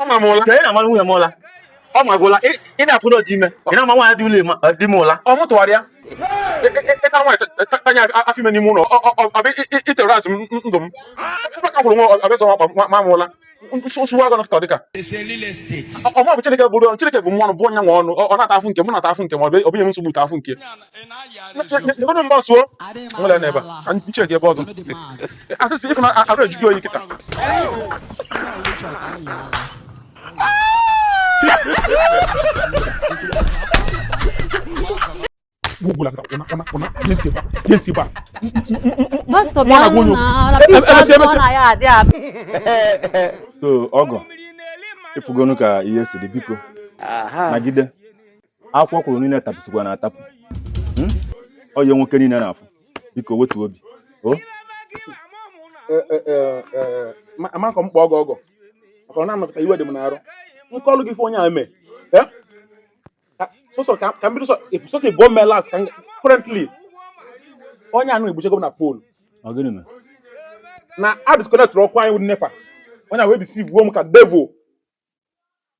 ọ ma m ụla ka ị na-amara nwunye m ụla ọ ma gị ụla ị na-afụ na ọ dị ime ị na-ama nwaanyị dị ụlọ ịma di m ụla ọ mụtụwara ya ịta nwaanyị tanye afọ ime n'ime ụlọ ọbịa itere azụ ndụ m ebe ka kwụrụ nwa ọbịa zọ ma m ụla nsogbu agụ nọkọta dịka ọma bụ Chineke bụrụ Chineke bụ mmụọ bụ onye nwe ọnụ ọ na-ata afụ nke m na-ata afụ nke m ọ bụ inye m nsogbu ta afụ nke Ndụrụ mba suo nwere n'ebe a nche gị ebe ọzọ asịsị ịsị na arụ eju gị oyi kịta gwụla kịta kwụna kwụna kwụna jesi ba jesi ba Pastọ bịa nụ na ala pizza Emesi, ọ emesi. na ya adị abụ. so ọgọ ịfụgonu ka ihe si dị biko nagide akwụkwọ kwuru niile tapụsikwa na atapụ hmm? ọ ihe nwoke niile na-afụ biko wetu obi o e, e, e, amakọ m kpọ ọgọ ọgọ maka ọ na-anọkọta iwe dị m n'arụ nkọlụ gị ife onye a mee sọsọ ka m bido sọsọ ife o mee last ka currently onye anụ egbuchego m na pole na a disconnect ọkụ anyị with NEPA onye a wee deceive-uo m ka devil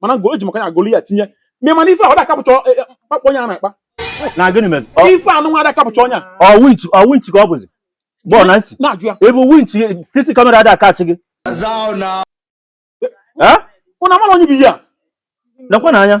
mana ngo eji maka ya agolu ya tinye ma mana ife a ọ da a-capture ọ- e- e- mkpakpọ onye a na-akpa na gịnị mere Ọ- ife anụ nwa ada a-capture onye a ọ winch ọ winch ka ọ bụzi bọọ Nancy na-ajụ ya ebe winch CCTV camera ada a-catch gị Eh? ụna mara onye bụ ihe a nakwa na anya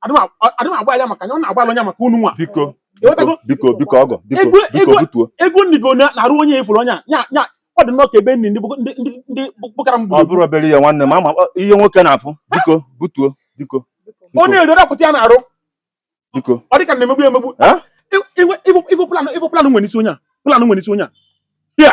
adị m agbaghalụ maka ya ọ na-agbaghalụ onye maka unu nwa biko Ewetago- biko biko ọgọ biko Ego- biko ego- butuo ego nri go na- n'arụ onye ị furu onye a. nya nya ọ dị nnọọ ka ebe nri ndị bụ- ndị ndị ndị bụkara m ọ gburu bụrụ obere ihe nwanne m ama ọ- ihe nwoke na-afụ biko butuo biko ọ na-eri ọ dapụta ya n'arụ biko ọ dị ka na-emegbu ya emegbu Eh? Iwe- iwe- iwe- iwe plan iwe plan nwere isi onye a plan nwere isi onye a ya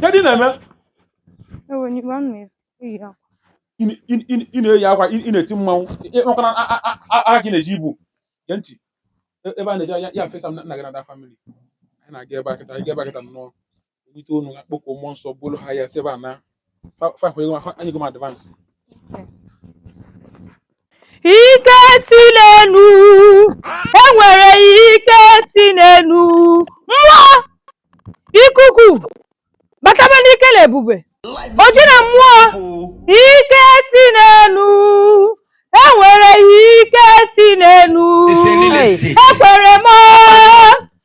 Kedu ị na-eme? Ewe n'igwe anụ eyi akwa. Ị na- ị- ị- ị na-eyi akwa, ị ị na-eti mmanwụ, ị- ị- makwa na a- a- a- aka gị na-eji ibu. Gee ntị, e- ebe a na-eje ya ya fesa m na nna gị na the family. Anyị na-aga ebe a kịta, anyị ga ebe a kịta nnọọ. Either unu akpọkuo mmụọ nsọ buru ha ya si ebe a naa. ike si n'enu enwere ike si n'enu mmụọ ikuku bataba n'ike na ebube oji na mmụọ ike si n'enu enwere ike si n'enu ekwere m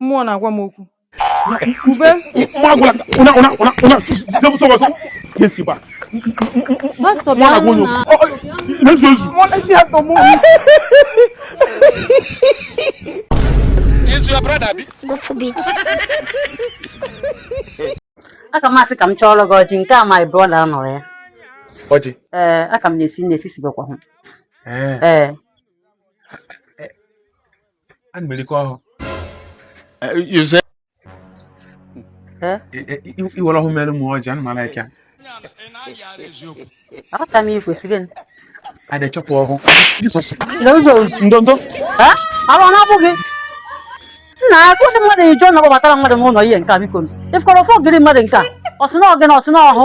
mmụọ na-agwa m okwu ube aka m asị ka m chọọrọ gị ọjị nke a my brother anọrọ ya ọjị ee aka m na-esi na-esi sibekwa hụ ee Ana m erikọ ọhụ. You say. I were ọhụ mere m ọjị, ana m ala ịka. Aka m ikwesịrị m. A da chọpụ ọhụ. N'ụzọ ozu. Ndo ndo. Awa na abụghị. Nna akụ ndị mmadụ ijọ na gbabatara mmadụ n'ụlọ ihe nke a biko. Ifkọrọ fọ gịrị mmadụ nke a. Ọsị na ọgị na ọsị na ọhụ.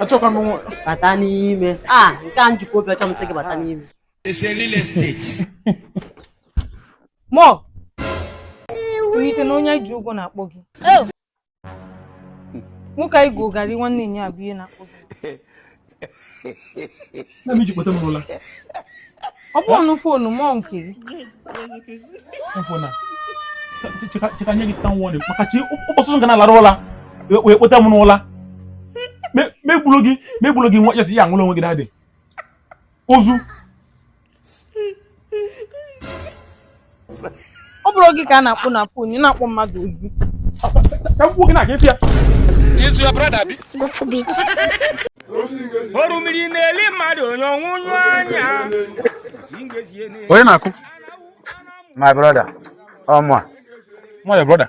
achọkwa m nwa bata n'ime a nke a m jikwa obi ọcha m sị gị bata n'ime It's a real estate. mọ i che na onye ji ụgwọ na-akpọ gị nwoke anyị gụgharị nwanne ya abụ ihe na-akpọ gị na m iji kpọta m n'ụla ọ bụ ọnụ foonu mọ nke fona che ka nye gị stern warning maka chi ụbọchị ọzọ ga na-alara ụla wee kpọta m n'ụla m egburu gị m egburu gị nwa ya si ya nwụrụ onwe gị dadị ozu ọ bụrụ gị ka a na-akpọ na fon ị na-akpọ mmadụ ozu orimiri na-eli mmadụ onye ọnwụ nyụ anya onye na-akụ my brother ọmụ a nwa your brother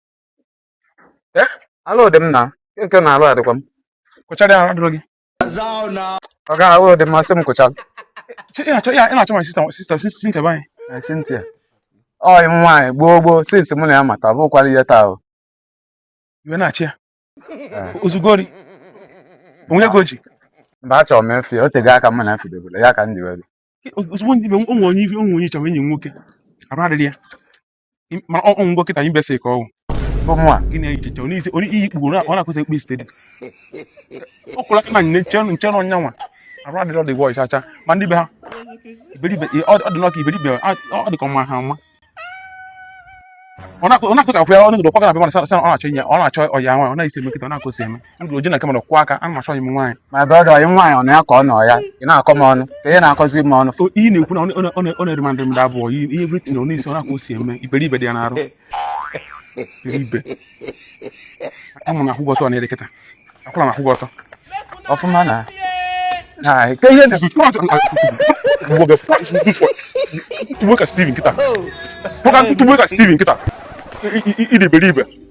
Eh, arụ dị m na nke na arụ adịkwa m kụchara ya adịrọ gị ọ gaghị arụ dị m asị m kụchara ị na-achọ my sister sister Cynthia be anyị Cynthia ọyị m nwaanyị gboo gboo since mụ na ya mata ọ bụkwarọ ihe taa o iwe na-achị ya eh. ozugori onwe ego ji mba achọrọ m ịfụ ya o tego aka mụ na afụdebere ya ka m ji were ozugbo ndị be onwe onye ife onwe onye chọrọ enyi nwoke arụ adịrọ ya ma ọ ọ ngwa kịta imbecile ka ọ wụ ọmụa gị na-echiche onye isi onye iyi kpugbu ọ na-akwụsị ekpe steady ọ kwụla kama nne nche nche na onye a nwa arụ adịrọ the boy chacha ma ndị be ha iberibe ọ ọ dị n'ọka iberibe ọ ọ dị ka ọma ha nwa ọ na-akụ- ọ na-akụsị akwụ ya ọ na-egodo kwagara abịa mana sa- sa- ọ na-achọ inye ọ na-achọ ọya nwa ọ na-esi eme kịta ọ na-akụsị eme ndụ oji na nke mmadụ kwụ aka ana m achọ ọyị m nwaanyị my brother ọyị nwaanyị ọ na ya ka ọ nọ ya ị na-akọ m ọnụ ka ihe na-akọzi m ọnụ so ihe na-ekwu na ọ na-eri mandị mmadụ abụọ ihe everything ọ na-esi ọ na-akwa o si eme iberibe dị ya n'arụ iberibe amụ na akwụgwọ ọtọ na-ere kịta akwụla m akwụgwọ ọtọ ọfụma na na nke ihe na tubuo ka Steven kịta tubuo ka Steven kịta ịdị iberibe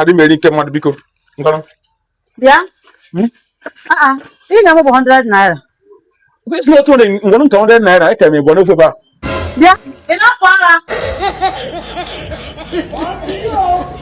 adị m eri nke mmadụ biko bịa hmm? ah, ah. ị ga-enwe bụ 100 naira isi otu onye ngwanụ nke 100 naira eke m ịgwa n'ofe ba bịa ị na-apụ ara